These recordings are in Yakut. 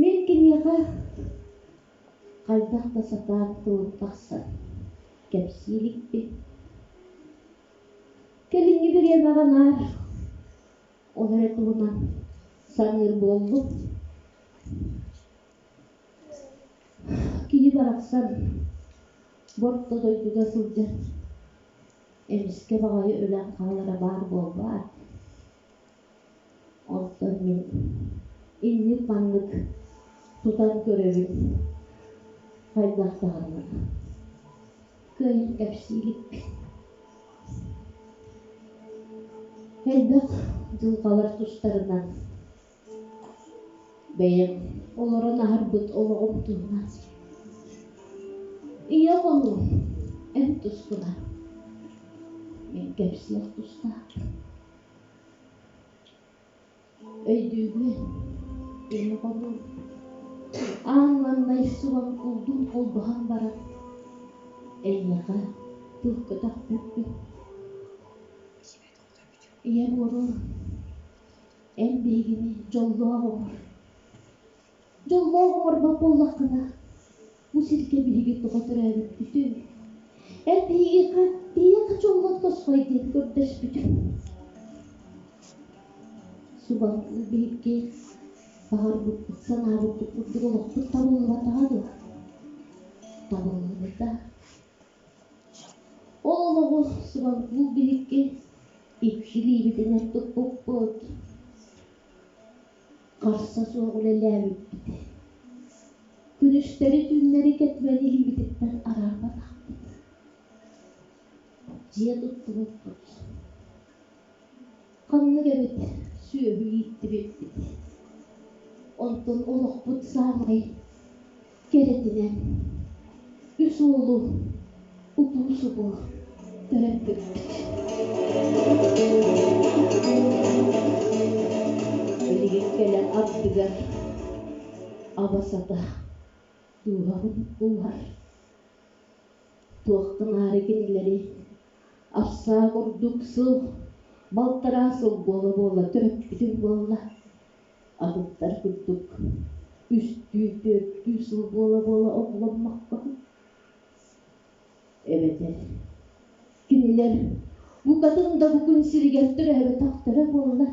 Мин киниэхэ хайдах да сатаан тылын тахсан кэпсии иликпин. Кэлиҥҥи бириэмэҕэ наар ол эрэ туһунан саныыр буоллум. Кини барахсан борто дойдуга сылдьар Эмискэ баҕайы үлэм хаалара баар буолбаат, оттон мин инник маннык тутан көрөрүм хайдах даҕаны кыайан кэпсии иликпин. Элбэх дьылҕалар тустарынан Бэйэм олорон аһарбыт олоҕум туһунан ийэ хонуум эн тускуна мин кэпсиэх тустаах өйдүүбүн ийэ хонуум аанлаҥнай субан кулдуум холбоһон баран эйиэхэ туох көтөхпүппүн Ийэ буолуом, эн биһигини дьоллоох оҥор. Дьоллоох оҥорбот буоллаххына, бу сиргэ биһиги тоҕо төрөөбүппүтүй? Эн биһигиэхэ тиийэххэ дьоллоох тосхой диэн көрдөспүтүҥ. Субанны биһиргэ баҕарбыппыт санаабыппыт курдук олохпут табыллыбатаҕа дуо? Табыллыбыта. Ол олоҕу Субанкул биһикки ипсилиибитин туппуппут, харса суох үлэлээбиппит, күнүстэри-түүннэри кэтимэн илиибититтэн араапатахпыт, дьиэ туттубуппут Ханнык эбит сүөһү ииттибиппит. Онтон олохпут саамай кэрэтинэн үс уолу утуу субу төрөппүппүт. Билигин кэлэ ардыгар аба сата дууһабын ууһар. туохтан аара кинилэри апсаа курдук сыл балтараа сыл буола-буола төрөппүтүм буолла атыттар курдук үстүү түөртүү сыл буола-буола оҕоломмокко эбэтэр кинилэр букатын да бу күн сиригэр төрөөбөтөхтөрө буоллар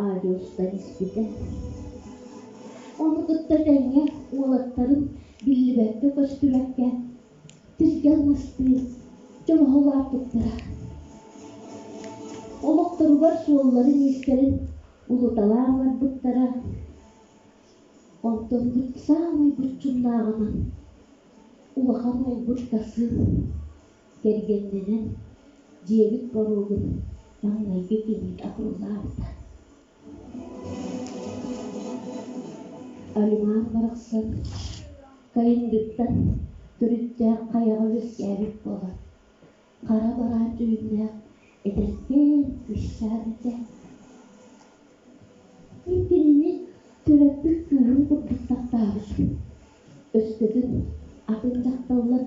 Аадьылыстар испитэ. Ону кытта тэҥэ уолаттарын биллибэккэ көстүбэккэ тиргэ алмастыы дьолоһуулаахпыттара. Олохторугар суолларын-иистэрин улуталаан ыларбыттара. Онторбут саамай булчуннааҕынан улахан ойбут Касым Кэргэннэнэн дьиэбит боруогун маҥнайгы киһи атыллаабыта Алимаар барахсан Кайындыттан төрүттээх хайаҕа үөскээбит буолан хара бараан дьүһүннээх эдэркээн кыысчаан этэ Иккилини төрөппүт кыыһын курдук таптаабыт Өскөтүн атын дьахталлар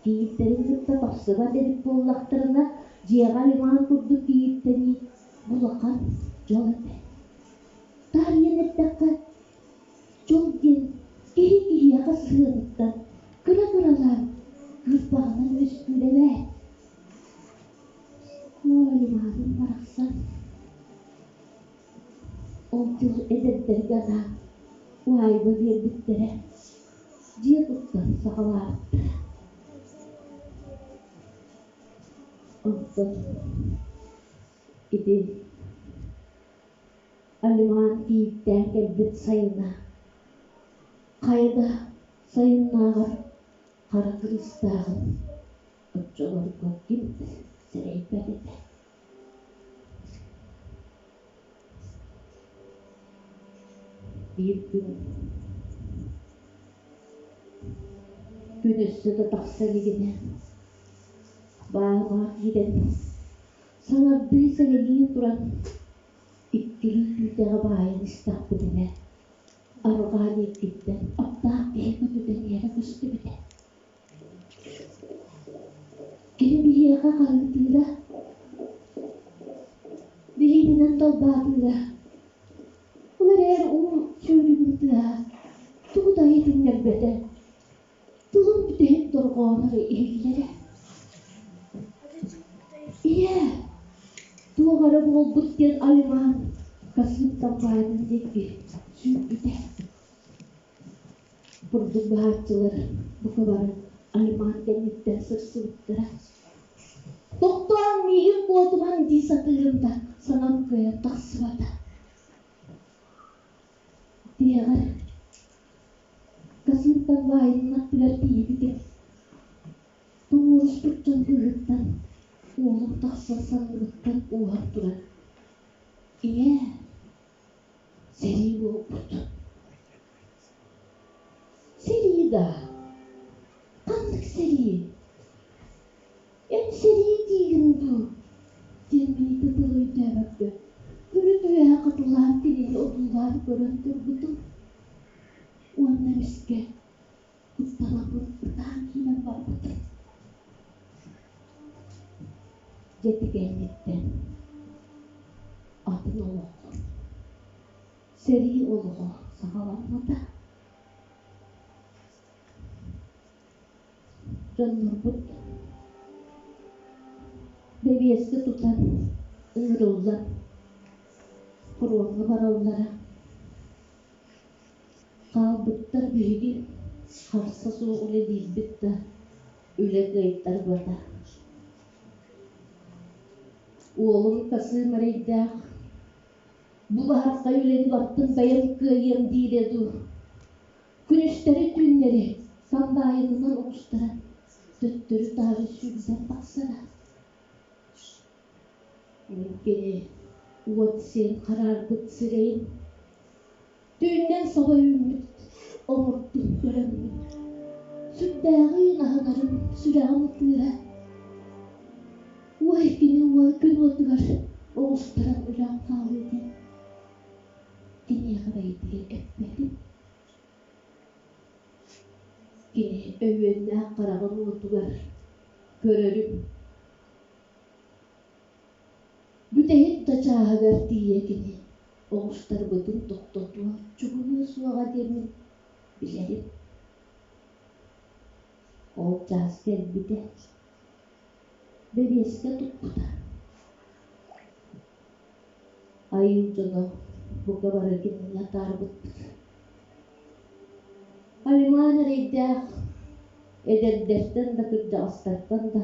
кийииттэрин кытта тахсыбат эбит буоллахтарына, дьиэҕэ Ливан курдук кийииттэнии улахан дьол этэ. Таарыйан эттэххэ, дьол диэн киһи киһиэхэ сыһыатыттан кыра-кыралаан кыырпаҕынан үөскүүр эбээт. Оо, Ливанын барахсан Ол дьыл эдэрдэһгэ анаан уһаайба биэрбиттэрэ, дьиэ туттан саҕалаабыттара Онтон ити Алиман кийииттээн кэлбит сайына хайа да сайыннааҕар хара кыыстааҕын оччолорго ким да сэрэйбэт этэ Күн өссө да тахса илигинэ баамаах иирэн саҥардыы сэгэлии туран иккилии күүтэҕэ баайан истэхпит инэ арҕаа диэкиттэн аптаах киһи көтүтэн иэрэ көстүбүтэ Киһи биһиэхэ хаһыытыыра, билиитинэн долбаатыыра. Ол эрээри ол сөрүгүн тыаһа тугу да иһитиннэрбэтэ. Тылын бүтэһик дорҕоонор иһиллэрэ. Ийээ, туох эрэ буолбут диэн Алимаан касыымтан баайан диэки сүүрбүтэ Курдук быһааччылар бука бары аймаан кэнниттэн сырсыбыттара. «Тохтооҥ, миигин куотумаҥ!» дии сатыырым да, санам кыайан тахсыбата. Дьиэҕэр касыырка убаайынын аттыгар тиийбитим. Тоҥуоруспут дьон быыһыттан уолум тахсан салыыбыттан ууһан турар. «Ийээ, Сэрии буолбут. Сэрии даа? Ханнык сэрии? Эн сэрии диигин дуу? диэн Миитэ тылы өйдөөбөккө үрүт-үөһэ хатылаан кинини одуулаан көрөн турбутум уонна эмискэ Ысталабын ытаан иһэн барбытым дьэ тигээҥҥиттэн атын олоҕу сэрии олоҕо саҕаламмата дьоннорбут бэбиэскэ тутан ыырыллан фроҥҥа бараллара Хаалбыттар биһиги харса суох үлэ диирбит да үлэ кыайтарбата Уолум касыым эрэйдээх «Булаһархай үлэни бартым бэйэм кыайыам» диирэ дуу күнүстэри-түүннэри хамбаайынынан оҕустаран төттөрү-таары сүүрдэн тахсара кини уот сиэн хараарбыт сирэйин түүннэн соло үүммүт омурдук көрөммүн сүрдээҕи аһынарым сүрэҕим ытыыра уой кини уол күн уотугар оҕустаран өлөн хаалыы диэн киниэхэ бэйэтигэр эппэтим кини өһүөннээх хараҕын уотугар көрөрүм Бүтэһик да чааһыгар тиийэ кини оҕустарбытын тохтотуо чугунуо суоҕа диэммин билэрим ол чаас кэлбитэ бэбиэскэ туппута айыы дьоно бука бары кинини атаарбыттар алимаан эрэйдээх эдэрдэртэн да кырдьаҕастартан да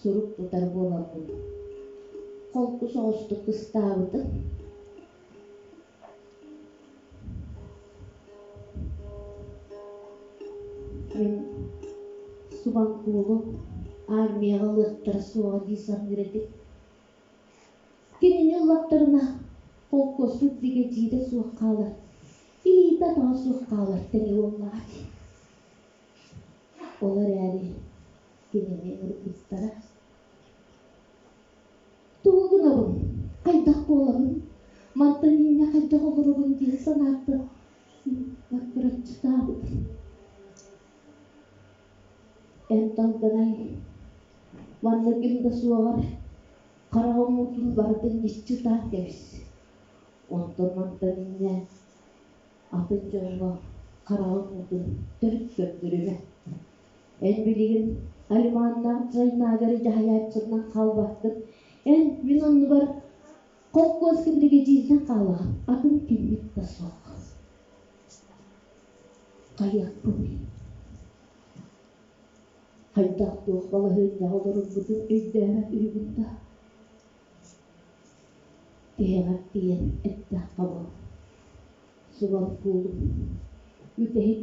сурук тутар буоларбын холку соҕустук ыстаабытым мин субанкулум армияҕа ылыахтара суоҕа дии саныыр этим кинини ыллахтарына холкуоспут бигэдьиидэ суох хаалар илиитэ-атаҕа суох хаалар тэҥэ буоллаҕа дии ол эрээри кинини ыргыстара. Тугу гынабын, хайдах буоларын, мантан инньэ хайдах олоробун дии санаата баккыраччытаабыт. Эн тантанай маннык им да суоҕар хараҕы уҥуутун барытын ньыччытаан кэбис. Онтон мантан инньэ атын дьоҥҥо хараҕын уутун төрүт көрдөрүмэ. Эн билигин Алиманнаах Дьайнаагары дьаһайааччытынан хаалбаккын. Эн мин оннубар холкуоскун бигэдьиирдэн хаалаҕын. Атын киммит да суох. Хайыахпыный? Хайдах-туох балаһыанньаҕа олорорбутун өйдөөбөт үһүбүн да. Тиһэҕэр тиийэн эттэххэ бу. Субал куулум. Бүтэһик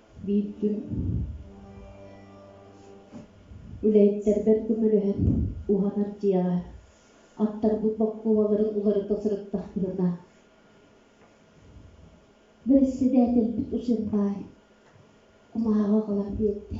Биирдэ үлэһиттэрбэр көмөлөһөн уһанар дьиэҕэ аттарбыт бокпуобаларын уларыта сырыттахпытына бэрэссэдээтэлбит усун баай кумааҕы ылан биэрдэ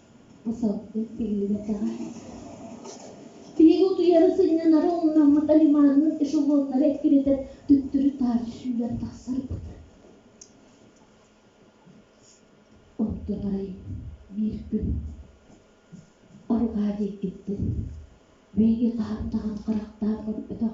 Саппыт биллибэтэҕэ Тиһиги утуйара сынньанара умнаммыта лиманныын эшелоннары эккирэтэр төттөрү таар сүүрэр тахсарбыт Оттон арай биир күн арҕаа диэкиттэн бэйиги хаһан даҕаны харахтаан көрбөтөх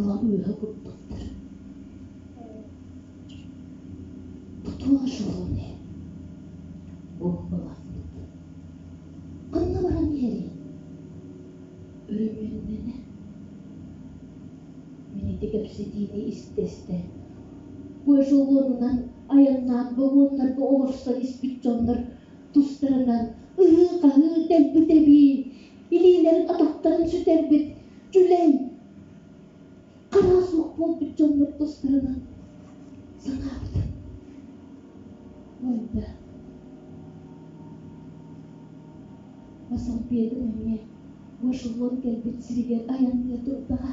ылан үөһэ курдуктар тутуо дьолуом иһин уобаласпыт ханна баран иһэрий өрөмүөннэнэ мин ити кэпсэтиини истэстэ эшелонунан айаннаан вагоннарга олорсон испит дьоннор тустарынан ырыы-хаһыы дэлбит эбии Илиилэрин атахтарын сүтэрбит дьүлэй хара суох буолбут дьоннор тустарынан санаабыта буолда. Масал Петр эмиэ бу эшелон кэлбит сиригэр айанныа турдаҕа.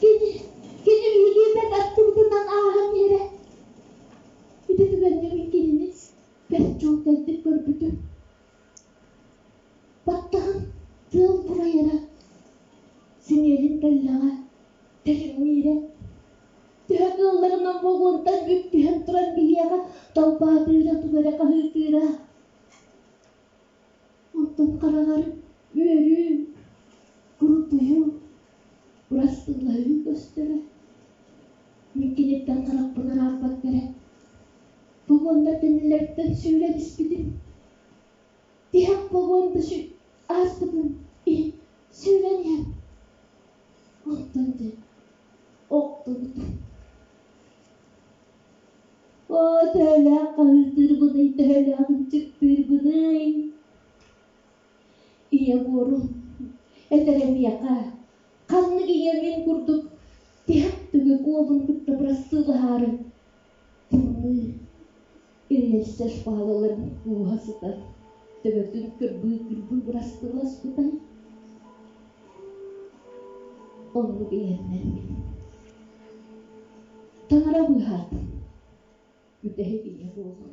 Кини, кини биһигиэннэн аттыбытынан ааһан иһэрэ. Ити түгэннэрин кинини бэрт дьолдордук көрбүтүм. Баттаҕым тыал бурайара, синиэлин тэллэҕэ тэлэҥниирэ. Төһө кыылларынан бугуурдар бүктүһэн туран биһиэхэ долбаатыыра-тугара хаһыытыыра. Оттон хараҕар үөрүүм, курутуйуум, бырастыылаһыым көстөрө. Мин киниттэн харахпын арааппакка эрэ погоннар кэннилэриттэн сүүрэн испитим. Тиһэх погон да сүү ааспытын иһин сүүрэн иһэн. Онтон дьэ охтубут оо төһөлөөх хаһыытыырбыный төһөлөөх ынчыктыырбыный ийэ буорум этэрэ миэхэ ханнык ийэм ин курдук тиһэх түгэх уолун кытта бырассыылаһаары ириэсэр паалаларын ууһа сытар төбөтүн кырбыы кырбыы бырастыласпыта оннук иһэннэрбин таҥара быыһаатым бүтэһик ийэ буолан